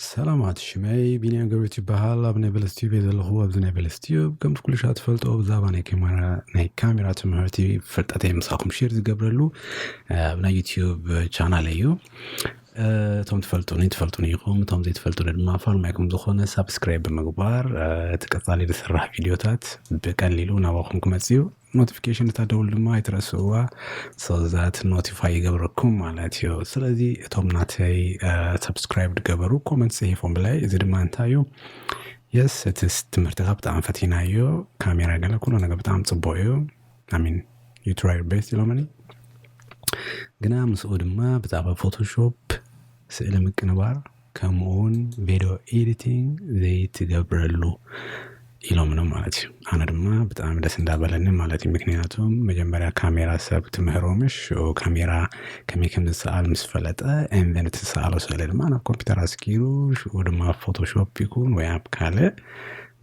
ሰላማት ሽመይ ቢንያም ገብረት ይበሃል ኣብ ናይ በለስ ቲዩብ እየ ዘለኹ ኣብዚ ናይ በለስ ቲዩብ ከምቲ ኩሉ ሻ ትፈልጦ ብዛዕባ ናይ ካሜራ ናይ ካሜራ ትምህርቲ ፍልጠተይ ምሳኹም ሼር ዝገብረሉ እ፣ ኣብ ናይ ዩቲዩብ ቻናል እዩ እ፣ እቶም ትፈልጡኒ ትፈልጡኒ ኢኹም እቶም ዘይትፈልጡኒ ድማ ፋርማይኩም ዝኾነ ሳብስክራይብ ብምግባር እ፣ እቲ ቀፃሊ ዝስራሕ ቪድዮታት ብቀሊሉ ናባኹም ክመፅእ እዩ ኖቲፊኬሽን እታ ደውል ድማ ኣይትረስእዋ ሰብዛት ኖቲፋይ ይገብረኩም ማለት እዩ ስለዚ እቶም ናተይ ሰብስክራይብ ድገበሩ ኮመንት ፅሒፎም ብላይ እዚ ድማ እንታይ እዩ የስ እቲ ትምህርትኻ ብጣዕሚ ፈቲና እዩ ካሜራ ገለ ኩሉ ነገር ብጣዕሚ ፅቡቅ እዩ ኣሚን ዩትራይ ቤስት ኢሎምኒ ግና ምስኡ ድማ ብዛዕባ ፎቶሾፕ ስእሊ ምቅንባር ከምኡውን ቪድዮ ኤዲቲንግ ዘይትገብረሉ ኢሎምኒ ማለት እዩ ኣነ ድማ ብጣዕሚ ደስ እንዳበለኒ ማለት እዩ ምክንያቱ መጀመርያ ካሜራ ሰብ ትምህሮምሽ ሽዑ ካሜራ ከመይ ከም ዝሰኣል ምስ ፈለጠ ኤንቨን እቲ ዝሰኣሎ ስእሊ ድማ ናብ ኮምፒውተር ኣስጊሩ ሽዑ ድማ ኣብ ፎቶሾፕ ይኩን ወይ ኣብ ካልእ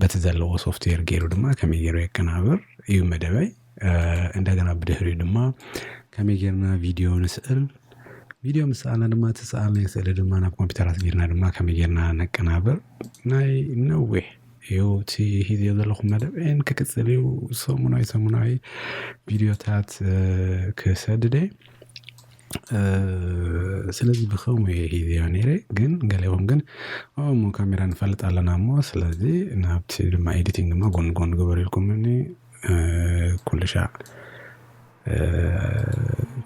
በቲ ዘለዎ ሶፍትዌር ገይሩ ድማ ከመይ ገይሩ የቀናብር እዩ መደበይ እንደገና ብድሕሪኡ ድማ ከመይ ጌርና ቪድዮ ንስእል ቪድዮ ምስ ሰኣልና ድማ እቲ ዝሰኣልናዮ ስእሊ ድማ ናብ ኮምፒተር ኣስጊርና ድማ ከመይ ጌርና ነቀናብር ናይ ነዊሕ እዩ እቲ ሒዘዮ ዘለኹ መደብ ን ክቅጽል እዩ ሰሙናዊ ሰሙናዊ ቪድዮታት ክሰድድ እየ። ስለዚ ብኸምኡ እየ ሒዘዮ ኔረ ግን ገሊኦም ግን ዋው እሞ ካሜራ ንፈልጥ ኣለና እሞ ስለዚ ናብቲ ድማ ኤዲቲንግ ድማ ጎኒ ጎኒ ግበሩ ኢልኩሙኒ። ኩልሻዕ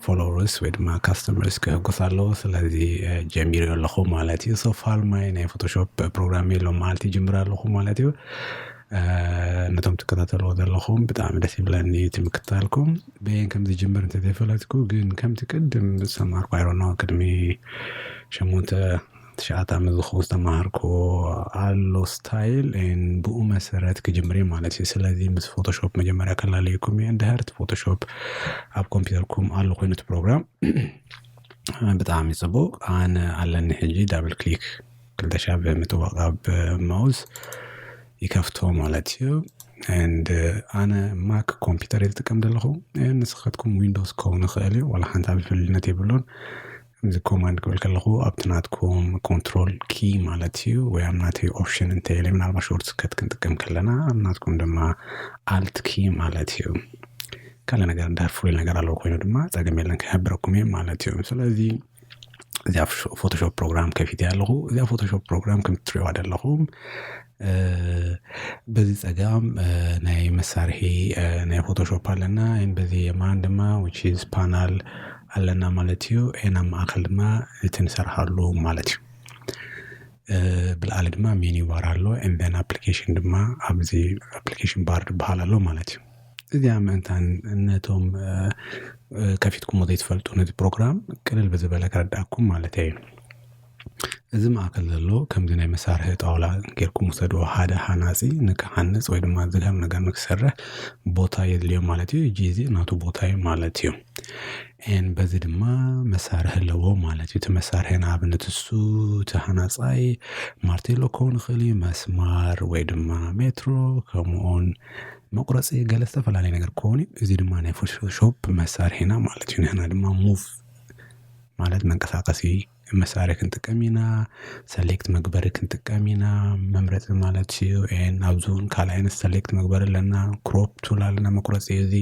ፎሎውርስ ወይ ድማ ካስተመርስ ከሕጉስ ኣለዎ ስለዚ ጀሚረዮ ኣለኹ ማለት እዩ ሶ ፋር ማይ ናይ ፎቶሾፕ ፕሮግራም የሎን መዓልቲ ይጅምር ኣለኹ ማለት እዩ። ነቶም ትከታተልዎ ዘለኹም ብጣዕሚ ደስ ይብለኒ እቲ ምክትታልኩም በየን ከም ዝጅምር እንተዘይፈለጥኩ ግን ከምቲ ቅድም ዝሰማርኩ ኣይ ዶንት ኖ ቅድሚ ሸሞንተ ትሽዓተ ዓመት ዝኸውን ዝተማሃርክዎ ኣሎ ስታይል ን ብኡ መሰረት ክጅምር እየ ማለት እዩ ስለዚ ምስ ፎቶሾፕ መጀመርያ ከላለየኩም እየ እንድሕር እቲ ፎቶሾፕ ኣብ ኮምፒውተርኩም ኣሎ ኮይኑ እቲ ፕሮግራም ብጣዕሚ ፅቡቅ ኣነ ኣለኒ ሕጂ ዳብል ክሊክ ክልተ ሻዕ ብምጥዋቅ ኣብ ማውስ ይከፍቶ ማለት እዩ ንድ ኣነ ማክ ኮምፒውተር እየ ዝጥቀም ዘለኹ ንስኻትኩም ዊንዶስ ክኸውን ይኽእል እዩ ዋላ ሓንቲ ዓብዪ ፍልልነት የብሉን እዚ ኮማንድ ክብል ከለኹ ኣብቲ ናትኩም ኮንትሮል ኪ ማለት እዩ ወይ ኣብ ናተይ ኦፕሽን እንተይለ ምናልባት ሾርት ስከት ክንጥቀም ከለና ኣብ ናትኩም ድማ ኣልት ኪ ማለት እዩ ካልእ ነገር እንድሕር ፍሉይ ነገር ኣለዎ ኮይኑ ድማ ፀገም የለን ክሕብረኩም እየ ማለት እዩ ስለዚ እዚኣ ፎቶሾፕ ፕሮግራም ከፊተ ኣለኹ እዚኣ ፎቶሾፕ ፕሮግራም ከም ትሪእዋ ዘለኹም በዚ ጸጋም ናይ መሳርሒ ናይ ፎቶሾፕ ኣለና ን በዚ የማን ድማ ዊች ኢዝ ፓናል ኣለና ማለት እዩ ን ኣብ ማእከል ድማ እቲ ንሰርሓሉ ማለት እዩ ብለዓሊ ድማ ሚንዩ ባር ኣሎ ን ዘን ኣፕሊኬሽን ድማ ኣብዚ ኣፕሊኬሽን ባር ዝብሃል ኣሎ ማለት እዩ እዚኣ ምእንታን ነቶም ከፊትኩሞ ዘይትፈልጡ ነዚ ፕሮግራም ቅልል ብዝበለ ከረድኣኩም ማለተይ እዩ። እዚ ማእከል ዘሎ ከምዚ ናይ መሳርሒ ጣውላ ጌርኩም ውሰድዎ ሓደ ሃናጺ ንክሃንጽ ወይ ድማ ዝድሀም ነገር ንክሰርሕ ቦታ የድልዮ ማለት እዩ ጂዚ ናቱ ቦታ እዩ ማለት እዩ። ኤን በዚ ድማ መሳርሒ ኣለዎ ማለት እዩ እቲ መሳርሒ ንኣብነት እሱ እቲ ሃናጻይ ማርቴሎ ክኮን ይክእል እዩ መስማር ወይ ድማ ሜትሮ ከምኡውን መቁረጺ ገለ ዝተፈላለየ ነገር ክኮን እዩ እዚ ድማ ናይ ፎቶ ሾፕ መሳርሒ ኢና ማለት እዩ ንሕና ድማ ሙቭ ማለት መንቀሳቀሲ መሳርሒ ክንጥቀም ኢና ሰሌክት መግበሪ ክንጥቀም ኢና መምረፂ ማለት እዩ ኤን ኣብዚ እውን ካልእ ዓይነት ሰሌክት መግበሪ ኣለና ክሮፕ ቱል ኣለና መቁረፂ እዚ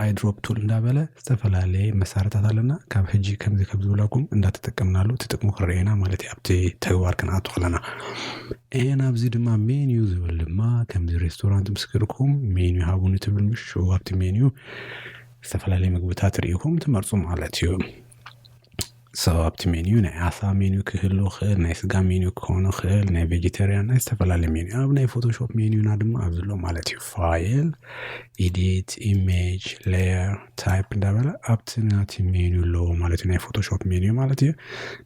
ኣይ ድሮፕ ቱል እንዳበለ ዝተፈላለየ መሳርሕታት ኣለና ካብ ሕጂ ከምዚ ከም ዝብለኩም እንዳተጠቀምናሉ እቲ ጥቅሙ ክረኣየና ማለት እዩ ኣብቲ ተግባር ክንኣቱ ከለና ኤን ኣብዚ ድማ ሜንዩ ዝብል ድማ ከምዚ ሬስቶራንት ምስ ከድኩም ሜንዩ ሃቡኒ ትብል ምሽ ኣብቲ ሜንዩ ዝተፈላለየ ምግብታት ሪኢኹም ትመርጹ ማለት እዩ። ሶ ኣብቲ ሜንዩ ናይ ዓሳ ሜንዩ ክህሉ ይኽእል፣ ናይ ስጋ ሜንዩ ክኸውን ይኽእል፣ ናይ ቬጀተርያን ናይ ዝተፈላለየ ሜንዩ ኣብ ናይ ፎቶሾፕ ሜንዩና ድማ ኣብዚ ኣሎ ማለት እዩ። ፋይል ኢዲት ኢሜጅ ሌየር ታይፕ እንዳበለ ኣብቲ ናቲ ሜንዩ ኣለዎ ማለት እዩ ናይ ፎቶሾፕ ሜንዩ ማለት እዩ።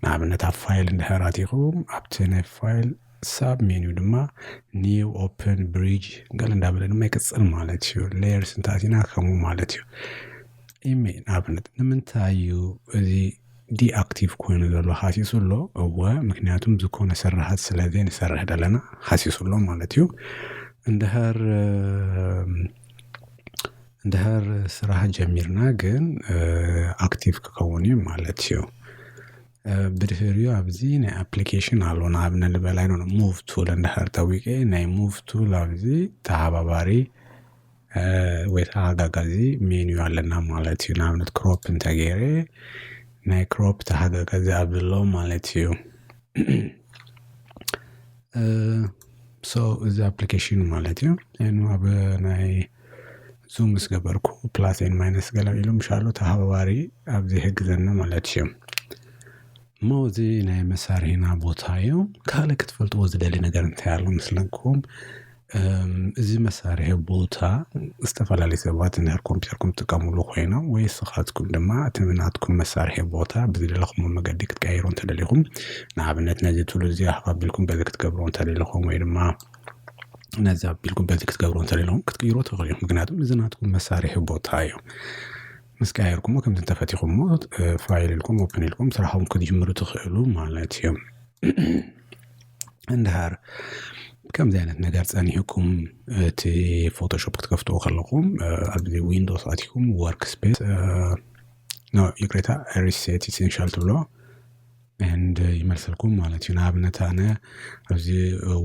ንኣብነት ኣብ ፋይል እንድሕር ኣቲኹም ኣብቲ ናይ ፋይል ሳብ ሜንዩ ድማ ኒው ኦፕን ብሪጅ ገለ እንዳበለ ድማ ይቅጽል ማለት እዩ። ሌየርስ እንተኣቲና ከምኡ ማለት እዩ። ኢሜል ኣብነት ንምንታይ እዩ እዚ ዲኣክቲቭ ኮይኑ ዘሎ ሃሲሱ ኣሎ እወ ምክንያቱም ዝኾነ ስርሓት ስለ ዘይንሰርሕ ዘለና ሃሲሱ ኣሎ ማለት እዩ እንድሃር እንድሃር ስራሕ ጀሚርና ግን ኣክቲቭ ክኸውን እዩ ማለት እዩ ብድህሪኡ ኣብዚ ናይ ኣፕሊኬሽን ኣሎ ንኣብነት ንበል ኣይዶነ ሙቭ ቱል እንድሃር ጠዊቀ ናይ ሙቭ ቱል ኣብዚ ተሓባባሪ ወይ ተሓጋጋዚ ሜንዩ ኣለና ማለት እዩ ንኣብነት ክሮፕ እንተገይረ ናይ ክሮፕ ተሓጋጋዚ ኣብዚ ኣሎ ማለት እዩ ሶ እዚ ኣፕሊኬሽን ማለት እዩ ን ኣብ ናይ ዙም ምስ ገበርኩ ፕላስ ኤንድ ማይነስ ገለ ኢሉ ምሻሉ ተሃባባሪ ኣብዚ ይሕግዘኒ ማለት እዩ እሞ እዚ ናይ መሳርሒና ቦታ እዩ ካልእ ክትፈልጥዎ ዝደሊ ነገር እንታይ ኣሎ መስለኩም እዚ መሳርሒ ቦታ ዝተፈላለዩ ሰባት እንድሕር ኮምፒተርኩም ትጥቀምሉ ኮይኖም ወይ ንስኻትኩም ድማ እቲ ናትኩም መሳርሒ ቦታ ብዝደለኹምዎ መገዲ ክትቀይሩ እንተደሊኹም ንኣብነት ነዚ ቱል እዚ ሃብ ኣቢልኩም በዚ ክትገብርዎ እንተደሊኹም ወይ ድማ ነዚ ኣቢልኩም በዚ ክትገብርዎ እንተደሊኹም ክትቅይርዎ ትኽእሉ እዮም። ምክንያቱም እዚ ናትኩም መሳርሒ ቦታ እዩ። ምስ ቀያየርኩሞ ከምዚ እንተፈቲኹሞ ፋይል ኢልኩም ኦፕን ኢልኩም ስራሕኩም ክትጅምሩ ትኽእሉ ማለት እዩ። እንድሃር ከምዚ ዓይነት ነገር ጸኒሑኩም እቲ ፎቶሾፕ ክትከፍትዎ ከለኹም ኣብዚ ዊንዶስ ኣትኩም ወርክ ስፔስ ይቅሬታ ሪሴት ኢሴንሻል ትብሎ ንድ ይመልሰልኩም ማለት እዩ ንኣብነት ኣነ ኣብዚ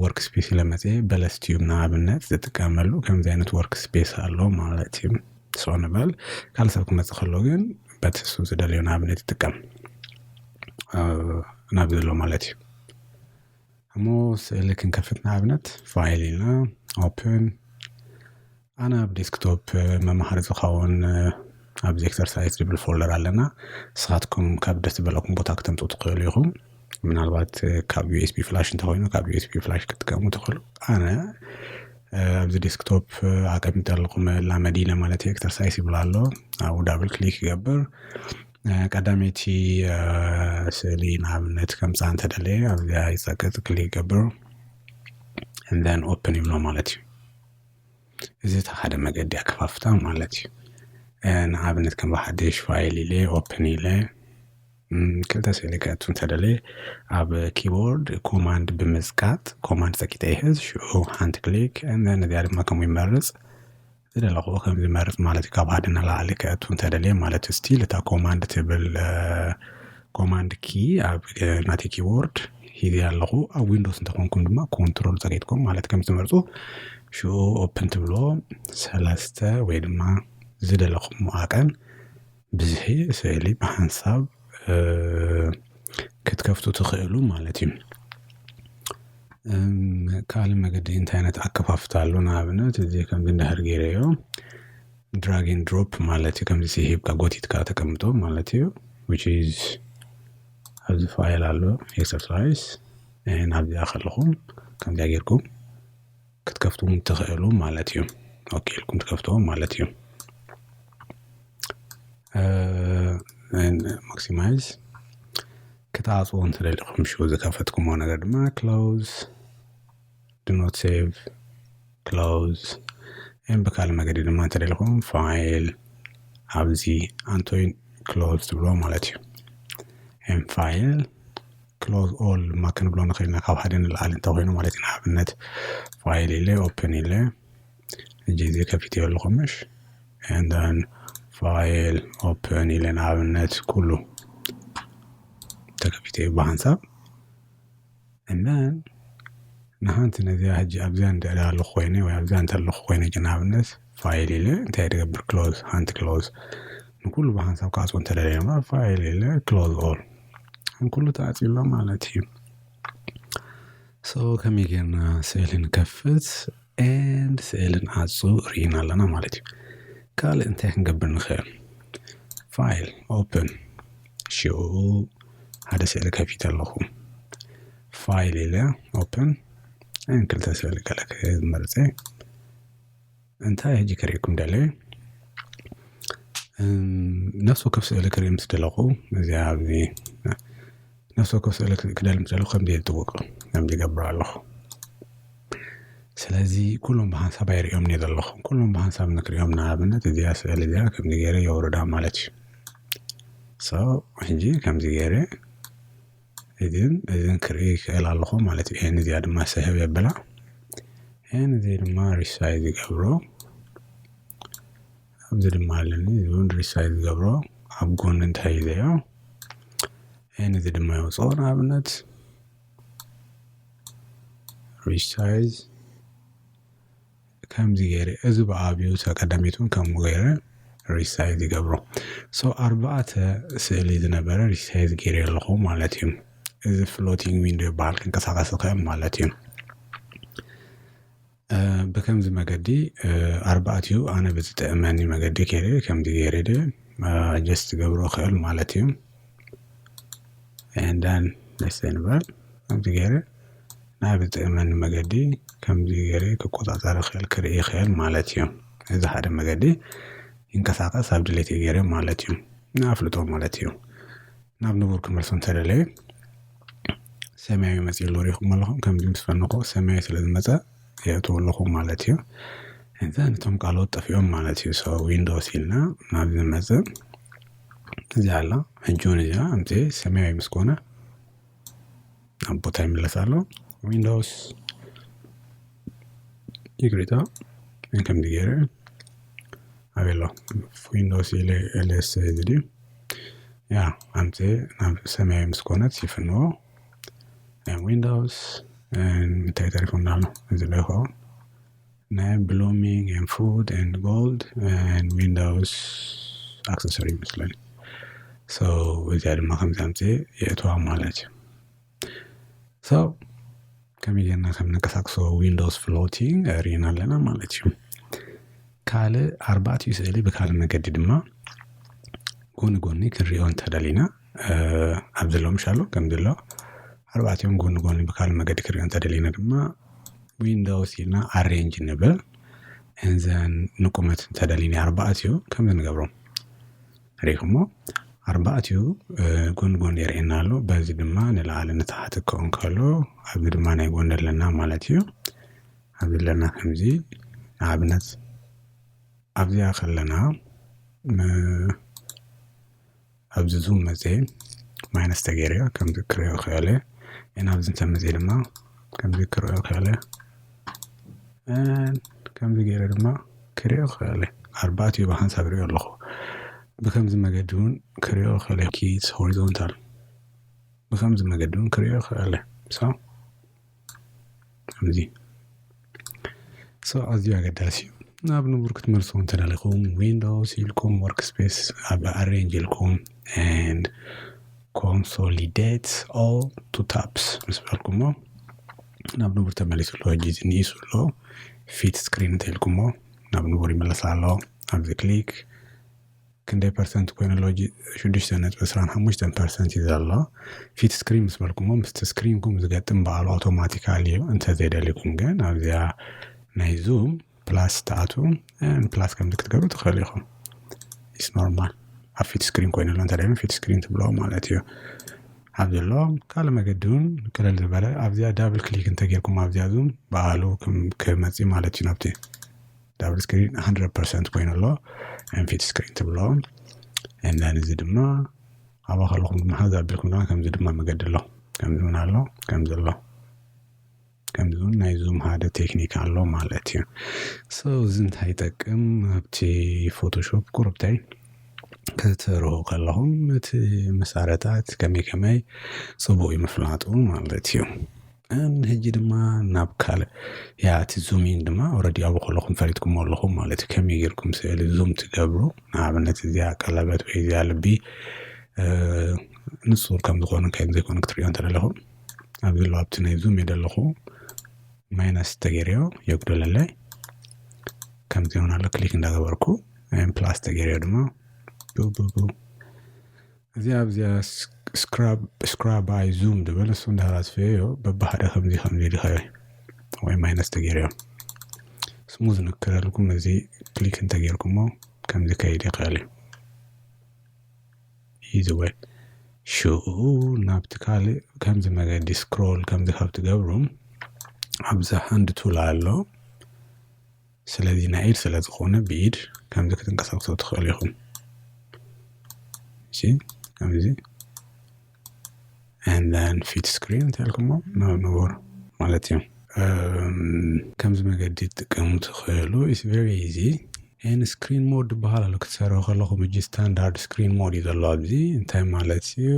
ወርክ ስፔስ ኢለመፀ በለስ ቲዩብ ንኣብነት ዝጥቀመሉ ከምዚ ዓይነት ወርክ ስፔስ ኣሎ ማለት እዩ ሰው ንበል ካልእ ሰብ ክመፅእ ከሎ ግን በቲ እሱ ዝደልዮ ንኣብነት ይጥቀም ናብ ዘሎ ማለት እዩ እሞ ስእሊ ክንከፍት ንኣብነት ፋይል ኢልና ኦፕን ኣነ ኣብ ዴስክቶፕ መምሃሪ ዝኸውን ኣብዚ ኤክሰርሳይዝ ዝብል ፎልደር ኣለና ንስኻትኩም ካብ ደስ ዝበለኩም ቦታ ክተምጽኡ ትኽእሉ ኢኹም ምናልባት ካብ ዩኤስቢ ፍላሽ እንተኾይኑ ካብ ዩኤስቢ ፍላሽ ክትጥቀሙ ትኽእሉ ኣነ ኣብዚ ዴስክቶፕ ኣቀሚጠልኩም መላመዲ ማለት ኤክሰርሳይስ ይብሎ ኣሎ ኣብኡ ዳብል ክሊክ ይገብር። ቀዳመይቲ ስእሊ ንኣብነት ከምፃ እንተደለየ ኣብዚኣ ይፀቅጥ ክሊክ ይገብር እንደን ኦፕን ይብሎ ማለት እዩ እዚ እቲ ሓደ መገዲ ኣከፋፍታ ማለት እዩ ንኣብነት ከም ብሓደሽ ፋይል ኢለ ኦፕን ኢለ ክልተ ስእሊ ከእቱ እንተደለየ ኣብ ኪቦርድ ኮማንድ ብምፅቃጥ ኮማንድ ፀቂጠ ይሕዝ ሽዑ ሓንቲ ክሊክ እንደን እዚኣ ድማ ከምኡ ይመርፅ ዝደለኹ ከም ዝመርጽ ማለት እዩ ካብ ሓደ ንላዕሊ ክእቱ እንተደልየ ማለት እዩ ስቲል እታ ኮማንድ ትብል ኮማንድ ኪ ኣብ ናተይ ኪቦርድ ሂዘ ኣለኹ ኣብ ዊንዶስ እንተኾንኩም ድማ ኮንትሮል ጸቂጥኩም ማለት ከም ዝመርጹ ሽኡ ኦፕን ትብሎ ሰለስተ ወይ ድማ ዝደለኹም መዓቀን ብዝሒ ስእሊ ብሓንሳብ ክትከፍቱ ትኽእሉ ማለት እዩ። ካልእ መገዲ እንታይ ዓይነት ኣከፋፍታ ኣሎ ንኣብነት እዚ ከምዚ እንድሕር ጌረዮ ድራግ ኤንድ ድሮፕ ማለት እዩ ከምዚ ሂብካ ጎቲትካ ተቀምጦ ማለት እዩ ዊች ኢዝ ኣብዚ ፋይል ኣሎ ኤክሰርሳይስ ንኣብዚኣ ከለኹም ከምዚኣ ጌርኩም ክትከፍቱ ትኽእሉ ማለት እዩ ኦኬ ኢልኩም ትከፍትዎ ማለት እዩ ማክሲማይዝ ክትዓጽዎ እንትደሊኹም ሽዑ ዝከፈትኩምዎ ነገር ድማ ክሎዝ ድኖት ሴቭ ክሎዝ ን ብካልእ መገዲ ድማ እንተደሊኹም ፋይል ኣብዚ ኣንቶይ ክሎዝ ትብልዎ ማለት እዩ ን ፋይል ክሎዝ ኦል ድማ ክንብሎ ንኽእል ኢና ካብ ሓደ ንላዕሊ እንተኮይኑ ማለት እዩ ንኣብነት ፋይል ኢለ ኦፕን ኢለ እጂ እዚ ከፊትዮ ኣለኹ ምሽ ንደን ፋይል ኦፕን ኢለ ንኣብነት ኩሉ ተከፊትዮ ብሃንሳብ እነን ንሃንቲ ነዚኣ ሕጂ ኣብዚኣ እንድዕዳ ኣለኹ ኮይነ ወይ ኣብዚኣ እንተለኹ ኮይነ እጂ ንኣብነት ፋይል ኢለ እንታይ ድገብር ክሎዝ ሓንቲ ክሎዝ ንኩሉ ብሓንሳብ ክዓጽዎ እንተደልየ ድማ ፋይል ኢለ ክሎዝ ኦል ንኩሉ ተዓጽዩ ኣሎ ማለት እዩ። ሶ ከመይ ጌርና ስእሊ ንከፍት ኤንድ ስእሊ ንዓጹ ርኢና ኣለና ማለት እዩ። ካልእ እንታይ ክንገብር ንኽእል? ፋይል ኦፕን ሽኡ ሓደ ስእሊ ከፊተ ኣለኹ ፋይል ኢለ ኦፕን ን ክልተ ስእሊ ገለ ክመርጽ እየ። እንታይ ሕጂ ክርእየኩም ደለ ነፍሲ ወከፍ ስእሊ ክርኢ ምስ ደለኹ እዚኣ ኣብዚ ነፍሲ ወከፍ ስእሊ ክደሊ ምስ ደለኹ ከምዚ ዝጥውቅ ከምዚ ይገብር ኣለኹ ስለዚ ኩሎም ብሓንሳብ ኣይርእዮም እየ ዘለኹ ኩሎም ብሓንሳብ ንክርእዮም ንኣብነት እዚኣ ስእሊ እዚኣ ከምዚ ገይረ የውርዳ ማለት እዩ ሶ ሕጂ ከምዚ ገይረ እዝን እዝን ክርኢ ይክእል ኣለኹ ማለት እዩ። ይሄን እዚኣ ድማ ሰሀብ የብላ ይሄን እዚ ድማ ሪሳይዝ ይገብሮ ኣብዚ ድማ ኣለኒ እዚውን ሪሳይዝ ይገብሮ ኣብ ጎኒ እንታይ እዩ ዘዮ ይህን እዚ ድማ የውፅኦ ንኣብነት ሪሳይዝ ከምዚ ገይረ እዚ ብኣብዩ ተ ቀዳሚት እውን ከምኡ ገይረ ሪሳይዝ ይገብሮ ሶ ኣርባዕተ ስእሊ ዝነበረ ሪሳይዝ ገይረ ኣለኹ ማለት እዩ እዚ ፍሎቲንግ ዊንዶ ይበሃል ክንቀሳቀስ ይኽእል ማለት እዩ ብከምዚ መገዲ ኣርባዕትኡ ኣነ ብዝጥዕመኒ መገዲ ከይረ ከምዚ ገይረ ጀስት ገብሮ ይኽእል ማለት እዩ ኤንዳን ደሴን ባል ከምቲ ገይረ ናብ ዝጥእመኒ መገዲ ከምዚ ገይረ ክቆጻጸር ይኽእል ክርኢ ይኽእል ማለት እዩ። እዚ ሓደ መገዲ ይንቀሳቀስ ኣብ ድሌተይ ገይረ ማለት እዩ ንኣፍልጦ ማለት እዩ። ናብ ንቡር ክመልሶ እንተደለየ ሰማያዊ መጺኡ ኣሎ ሪኢኹሞ ኣለኹም ከምዚ ምስ በልናኹ ሰማያዊ ስለ ዝመጸ የእትዎ ኣለኹ ማለት እዩ። ኤንዘን እቶም ቃላዎት ጠፊኦም ማለት እዩ ሶ ዊንዶስ ኢልና ናብ ዝመጽእ እዚኣ ኣላ ሕጂውን እዚኣ ኣምጺኤ ሰማያዊ ምስ ኮነ ናብ ቦታ ይምለስ ኣሎ ዊንዶውስ ይቅሬታ ከምዚ ገይረ ኣበይ ኣሎ ዊንዶውስ ኢለ ኤልኤስ እዚ ድዩ ያ ኣምጺኤ ናብ ሰማያዊ ምስ ኮነት ይፍንዎ ዊንዶውስ እንታይ ተሪፉና ኣሎ እዚ ዶ ይኸውን ናይ ብሉሚንግ ኤንድ ፉድ ኤንድ ጎልድ ኤንድ ዊንዳውስ ኣክሰሰሪ ይመስለኒ ሶ እዚኣ ድማ ከምዚ ኣምፅኤ የእትዋ ማለት እዩ ሶ ከመይ ጌርና ከም ነንቀሳቅሶ ዊንዶውስ ፍሎቲንግ ርኢና ኣለና ማለት እዩ ካልእ ኣርባዕቲኡ ስእሊ ብካልእ መገዲ ድማ ጎኒ ጎኒ ክንሪኦ እንተደሊና ኣብ ዘለዉ ምሻሉ ከምዚ ኣሎ ኣርባዕቲኦም ጎኒ ጎኒ ብካል መገዲ ክሪኦ እንተደሊና ድማ ዊንዶውስ ኢልና ኣሬንጅ ንብል እንዘን ንቁመት እንተደሊኒ ኣርባዕቲኡ ከምዚ ንገብሮም ሪኢኹሞ ኣርባዕቲኡ ጎኒ ጎኒ የርእየና ኣሎ በዚ ድማ ንላዕሊ ንታሕቲ ክኸውን ከሎ ኣብዚ ድማ ናይ ጎኒ ኣለና ማለት እዩ ኣብዚ ኣለና ከምዚ ንኣብነት ኣብዚኣ ከለና ኣብዚ ዙም መፅየ ማይነስ ተገይረዮ ከምዚ ክሪኦ ክእለ እና ኣብዚ ተመፅየ ድማ ከምዚ ክሪኦ ክእለ ከምዚ ገይረ ድማ ክሪኦ ክእለ ኣርባዕቲኡ ብሓንሳብ ሪኦ ኣለኹ ብከምዚ መገዲ እውን ክሪኦ ክእለ ኪስ ሆሪዞንታል ብከምዚ መገዲ እውን ክሪኦ ክእለ ሶ እዚ ኣዝዩ ኣገዳሲ እዩ ናብ ንቡር ክትመልሱ እንተደሊኹም ዊንዶውስ ኢልኩም ወርክ ስፔስ ኣብ ኣሬንጅ ኢልኩም ን ኮንሶሊደት ኦል ቱ ታፕስ ምስ በልኩሞ ናብ ንቡር ተመሊሱ ኣሎ ሕጂ እዚ ንኢሱ ኣሎ ፊት ስክሪን እንተኢልኩሞ ናብ ንቡር ይመለስ ኣሎ ኣብዚ ክሊክ ክንደይ ፐርሰንት ኮይኑ ኣሎ ሕጂ ሽዱሽተ ነጥቢ ዕስራን ሓሙሽተን ፐርሰንት እዩ ዘሎ ፊት ስክሪን ምስ በልኩሞ ምስቲ ስክሪንኩም ዝገጥም በዓሉ ኣውቶማቲካሊ እዩ እንተዘይደሊኩም ግን ኣብዚኣ ናይ ዙም ፕላስ ትኣትዉ ፕላስ ከምዚ ክትገብሩ ትኽእል ኢኹም ኢስ ኖርማል ኣብ ፊት ስክሪን ኮይኑ ኣሎ እንተደይም ፊት ስክሪን ትብሎ ማለት እዩ ኣብ ዘሎ ካልእ መገዲ እውን ቅልል ዝበለ ኣብዚኣ ዳብል ክሊክ እንተጌርኩም ኣብዚኣ ዙም በዓሉ ክመፅእ ማለት እዩ ናብቲ ዳብል ስክሪን 100 ፐርሰንት ኮይኑ ኣሎ ንፊት ስክሪን ትብሎ እነን እዚ ድማ ኣብኣ ከለኹም ድማ ሓዝ ኣቢልኩም ድማ ከምዚ ድማ መገዲ ኣሎ ከምዚ እውን ኣሎ ከምዚ ኣሎ ከምዚ እውን ናይ ዙም ሓደ ቴክኒክ ኣሎ ማለት እዩ ሶ እዚ እንታይ ይጠቅም ኣብቲ ፎቶሾፕ ቁርብተይ ክትሰርሑ ከለኹም እቲ መሳርሕታት ከመይ ከመይ ፅቡቅ እዩ ምፍላጡ ማለት እዩ ንሕጂ ድማ ናብ ካልእ ያ እቲ ዙሚን ድማ ኦረዲ ኣብኡ ከለኹም ፈሊጥኩሞ ኣለኹም ማለት እዩ ከመይ ጌርኩም ስእሊ ዙም ትገብሩ ንኣብነት እዚኣ ቀለበት ወይ እዚኣ ልቢ ንሱር ከም ዝኾኑ ከይን ዘይኮኑ ክትሪኦ እንተ ደለኹም ኣብዚ ኣለዋ ኣብቲ ናይ ዙም ኢለ ኣለኹ ማይነስ ተገይርዮ የጉደለለይ ከምዚ ይሆናሉ ክሊክ እንዳገበርኩ ፕላስ ተገይርዮ ድማ ቡቡቡ እዚኣ ኣብዚኣ ስክራብ ኣይ ዙም ድብል እሱ እንዳሃራስፈዮ ዮ በባህደ ከምዚ ከምዚ ድኸዮ ወይ ማይነስ ተገይርዮ ስሙዝ ንክረልኩም እዚ ክሊክ እንተገይርኩሞ ከምዚ ከይድ ይኽእል እዩ ኢዚ ወይ ሽኡ ናብቲ ካልእ ከምዚ መገዲ ስክሮል ከምዚ ካብ ትገብሩ ኣብዚ ሃንድ ቱል ኣሎ ስለዚ ናይ ኢድ ስለ ዝኾነ ብኢድ ከምዚ ክትንቀሳቅሶ ትኽእሉ ኢኹም እሺ ከምዚ and then ፊት ስክሪን እንተልኩሞ ንቡር ማለት እዩ ከምዚ መገዲ ትጥቀሙ ትኽእሉ ኢስ ቨሪ ኢዚ ኤን ስክሪን ሞድ ዝበሃል ኣሎ ክትሰርሑ ከለኹም እጂ ስታንዳርድ ስክሪን ሞድ እዩ ዘሎ ኣብዚ እንታይ ማለት እዩ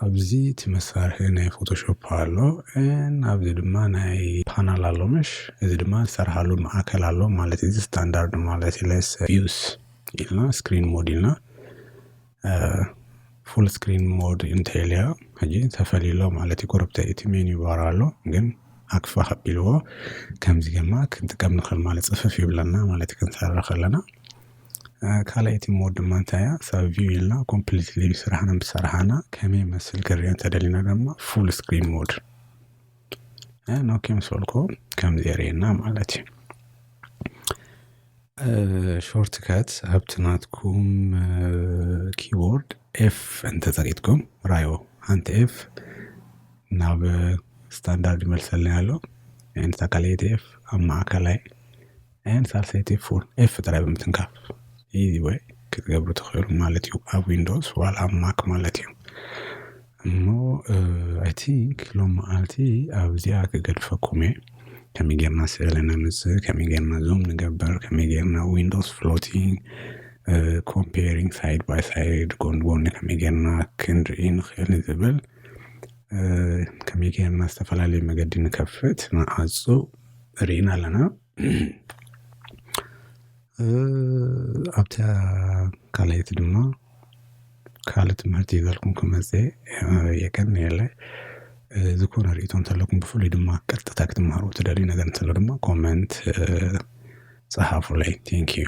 ኣብዚ እቲ መሳርሒ ናይ ፎቶሾፕ ኣሎ ኤን ኣብዚ ድማ ናይ ፓናል ኣሎ ምሽ እዚ ድማ ዝሰርሓሉ ማእከል ኣሎ ማለት እዚ ስታንዳርድ ማለት እዩ ለስ ቪውስ ኢልና ስክሪን ሞድ ኢልና ፉል ስክሪን ሞድ እንተይልያ ሕጂ ተፈልዩሎ ማለት እዩ ጎረብተ እቲ ሜን ይባር ኣሎ ግን ኣክፋ ከቢልዎ ከምዚ ገማ ክንጥቀም ንኽእል ማለት ፅፍፍ ይብለና ማለት እዩ ክንሰርሕ ከለና ካልኣይ እቲ ሞድ ድማ እንታይ እያ ሰብ ቪው ኢልና ኮምፕሊትሊ ስራሕና ምስ ሰራሕና ከመይ ይመስል ክንሪኦ እንተደሊና ድማ ፉል ስክሪን ሞድ ኖኪ ምስ በልኩ ከምዚ የርእየና ማለት እዩ ሾርት ከት ኣብቲ ናትኩም ኪቦርድ ኤፍ እንተጸቂጥኩም ራዮ ሓንቲ ኤፍ ናብ ስታንዳርድ ይመልሰልና ኣሎ ንተካልኤት ኤፍ ኣብ ማእከላይ ን ሳልሰይቲ ፉል ኤፍ ጥራይ ብምትንካፍ ኢዚ ወይ ክትገብሩ ትኽእሉ ማለት እዩ ኣብ ዊንዶስ ዋላ ኣብ ማክ ማለት እዩ እሞ ኣይ ቲንክ ሎም መዓልቲ ኣብዚኣ ክገድፈኩም እየ ከመይ ጌርና ስእሊ ነምጽእ ከመይ ጌርና ዙም ንገብር ከመይ ጌርና ዊንዶስ ፍሎቲንግ ኮምፔሪንግ ሳይድ ባይ ሳይድ ጎን ጎኒ ከመይ ጌርና ክንርኢ ንኽእል ዝብል ከመይ ጌርና ዝተፈላለየ መገዲ ንከፍት ንዓጹ ርኢና ኣለና ኣብታ ካልኣይቲ ድማ ካልእ ትምህርቲ ይዘልኩም ክመጽ የቀን የለ ዝኾነ ርእቶ እንተለኩም ብፍሉይ ድማ ቀጥታ ክትምሃሩ ትደልዩ ነገር እንተሎ ድማ ኮመንት ጸሓፉለይ ቴንክ ዩ